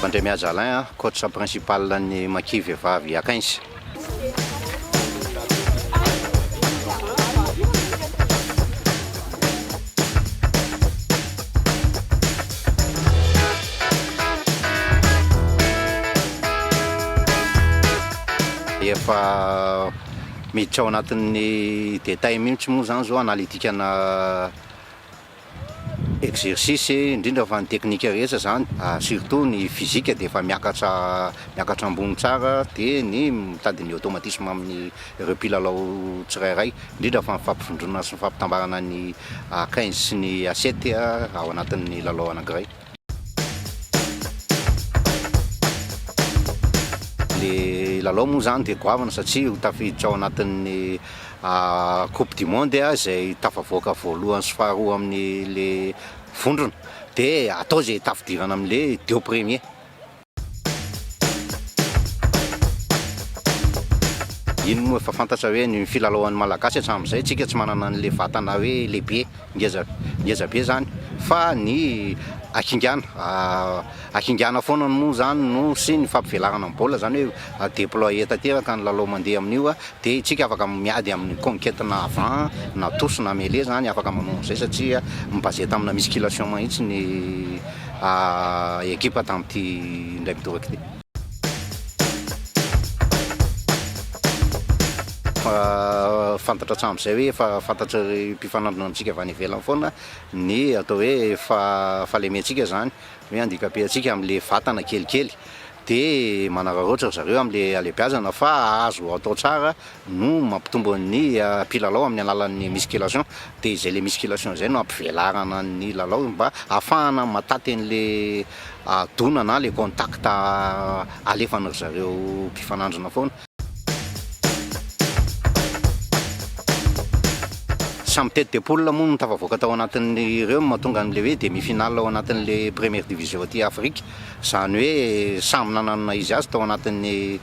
Andriamihaja Alain a, coach principal an'ny Maki vehivavy Akains. Efa Miditra ao anatin'ny détail mihitsy moa izany izao analytikana exercice, indrindra fa ny teknika rehetra izany, surtout ny physique dia efa miakatra miakatra ambony tsara, dia ny mitady ny automatisme amin'ireo mpilalao tsirairay, indrindra fa ny fampivondronana sy ny fampitambarana ny A15 sy ny A7 ao anatin'ny lalao anankiray. Ilay lalao moa izany dia goavana satria ho tafiditra ao anatin'ny coupe du monde izay tafavoaka voalohany sy faharoa amin'ilay vondrona dia atao izay tafidirana amin'ilay deux premiers. Iny moa efa fantatra hoe ny filalaoan'ny Malagasy hatramin'izay, tsika tsy manana an'ilay vatana hoe lehibe, ngeza ngeza be zany fa ny hakingana, hakingana foana moa zany no sy ny fampivelarana ny baolina zany hoe deployer tanteraka ny lalao mandeha amin'io Dia isika afaka miady amin'ny conquete na avant na tous na mele izany afaka manao an'izay satria mi-baser tamina musculation mahitsy ny ekipa tamin'ity indray midoraka ity. Fantatra hatramin'izay hoe efa fantatr'ireo mpifanandrina amintsika avy any ivelany foana ny atao hoe fahalementsika izany, hoe handika-pe antsika amin'ilay vatana kelikely dia manararaotra ry zareo amin'ilay halehibiazana fa azo atao tsara no mampitombo ny mpilalao amin'ny alalan'ny musculation dia izay ilay musculation izay no hampivelarana ny lalao mba hahafahana mataty an'ilay dona na ilay contact alefan'ry zareo mpifanandrina foana. Samy tête de poule moa no tafavoaka tao anatin'ireo no mahatonga an'ilay hoe demi finale ao anatin'ilay première division aty Afrika. Izany hoe samy nanana izy azy tao anatin'ny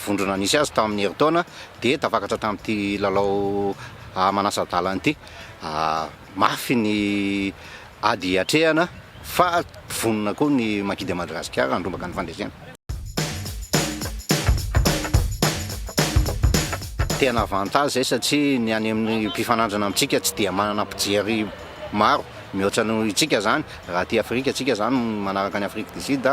vondrona nisy azy tamin'ny herintaona dia tafakatra tamin'ity lalao manasa-dalana ity. Mafy ny ady hiatrehana fa vonona koa ny Maquis de Madagascar handrombaka ny fandresena. Tena avantage izay satria ny any amin'ny mpifanandrina amintsika tsy dia manana mpijery maro mihoatra noho itsika izany. Raha aty Afrika tsika izany manaraka an'i Afrique du Sud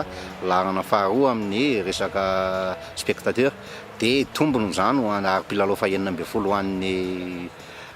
laharana faharoa amin'ny resaka spectateurs dia tombony izany ho an'ny ary mpilalao fahenina ambin'ny folo ho an'ny